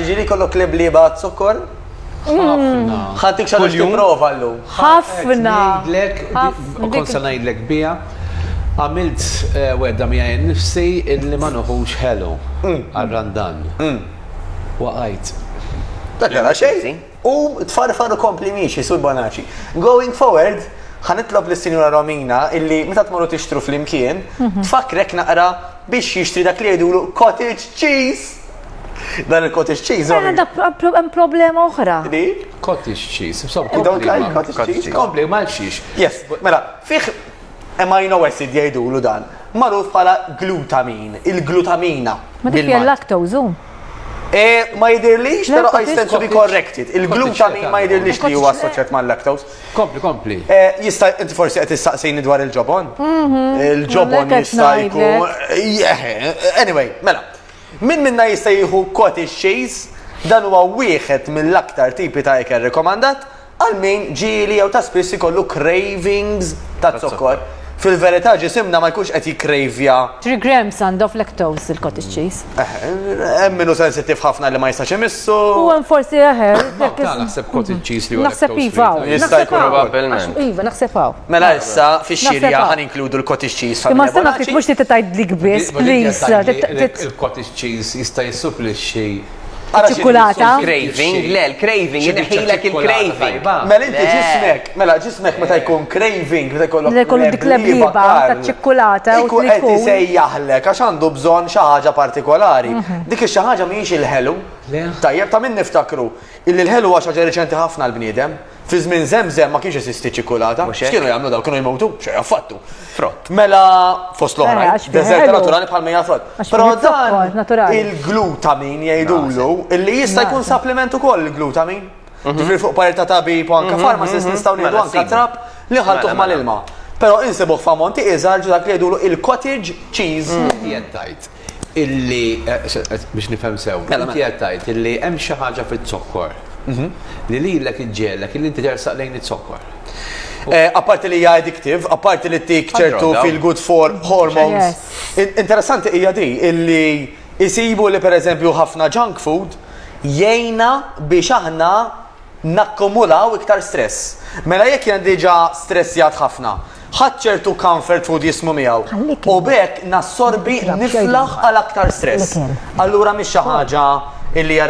Ġiri kollok leblieba għaz-zokkor? Ħafna. Ħadd ikxar biex tipprova llum. Ħafna. Ngħidlek, kont se ngħidlek biha, għamilt eh, wedda miegħi nnifsi illi ma noħux ħelu mm. għal-randan. Mm. Waqajt. Dak xejn. U tfarfar u kompli miexi, Sur Bonaci. Going forward, ħa nitlob lis-Sinjura Romina illi meta tmorru tixtru flimkien, tfakkrek naqra biex jixtri dak li jgħidulu cottage cheese! Dan il-cottage cheese. Mela da hemm problema oħra. Li? Cottage cheese. Don't like cottage cheese. Kompli, ma' xiex. Yes, mela, fih Amino acid jgħidulu dan, magħruf bħala glutamin, il-glutamina. Ma dik hija lactose hu? Eh, ma jidirlix, pero I stand to be corrected. Il-glutamin ma jidirlix li huwa assoċjat ma' lactose. Kompli, kompli. Eh, jista' inti forsi qed tistaqsini dwar il-ġobon? Mhm. Il-ġobon jista' jkun. Eh, eh, anyway, mela. Min minna jista' jieħu cottage cheese dan huwa wieħed mill-aktar tipi ta' ikel rekomandat Għal min ġieli jew ta' spiss ikollu cravings taz-zokkor, fil-verità ġisimna ma jkunx qed jikkravja. Three grams and of lactose il-cottage cheese. Hemm min hu sensittiv ħafna li ma jistax imissu. U hemm forsi eħe. Hawn ta' naħseb cottage cheese li huwa lactose free. Naħseb iva hawn. Jista' jkun hawn. Probabbilment. Iva naħseb hawn. Mela issa fix-xirja ħa ninkludu l-cottage cheese familja Bonacci. Imma astenna ftit mhux trid tgħidlik biss please. Il-cottage cheese jista' jissupplixxi. ċikkulata. Craving, le, l-craving, jinħilek il-craving. Mela inti ġismek, mela ġismek meta jkun craving, meta jkollok. Meta jkollok dik l-ebliba ta' ċikkulata. Ikun qed isejjaħlek għax għandu bżonn xi ħaġa partikolari. Mhm. Dik xi ħaġa mhijiex il-ħelu. Tajjeb ta' min niftakru. Illi l-ħelu għax ħaġa reċenti ħafna l-bniedem. Fi żmien Żemżem ma kienx jeżisti ċ-ċikulata. Mhux hekk? X'kienu jagħmlu dawn? Kienu jmutu? Xejn affattu. Frott. Mela fost Eh, l-oħrajn, għax fih deżerta ħelu. naturali bħal mejja frott. Għax Però fih zokkor dan naturali. il-glutamin jgħidulu illi jista' jkun Naqsa. supplement ukoll il-glutamin. Ġifieri fuq parir ta' tabib u anke pharmacist nistgħu nieħdu Mela, anke sibu. trab li nħaltuh Mela, mela. mal-ilma. Però insibuh f'ammonti iżgħar ġu dak li jgħidulu il-cottage cheese. Jien tajt. illi, biex nifhem sew, inti qed tgħid illi hemm xi ħaġa fiz-zokkor li lilek iġġegħlek illi inti tersaq lejn iz-zokkor. Apparti li hija addictive, apparti li ttik ċertu feel good for hormones. Interessanti hija di illi isibu li pereżempju ħafna junk food jgħinna biex aħna nakkumulaw iktar stress. Mela jekk jiena diġà stressjat ħafna, ħadt ċertu comfort food jismu miegħu u b'hekk nassorbi niflaħ għal aktar stress. Allura mhix xi ħaġa li hija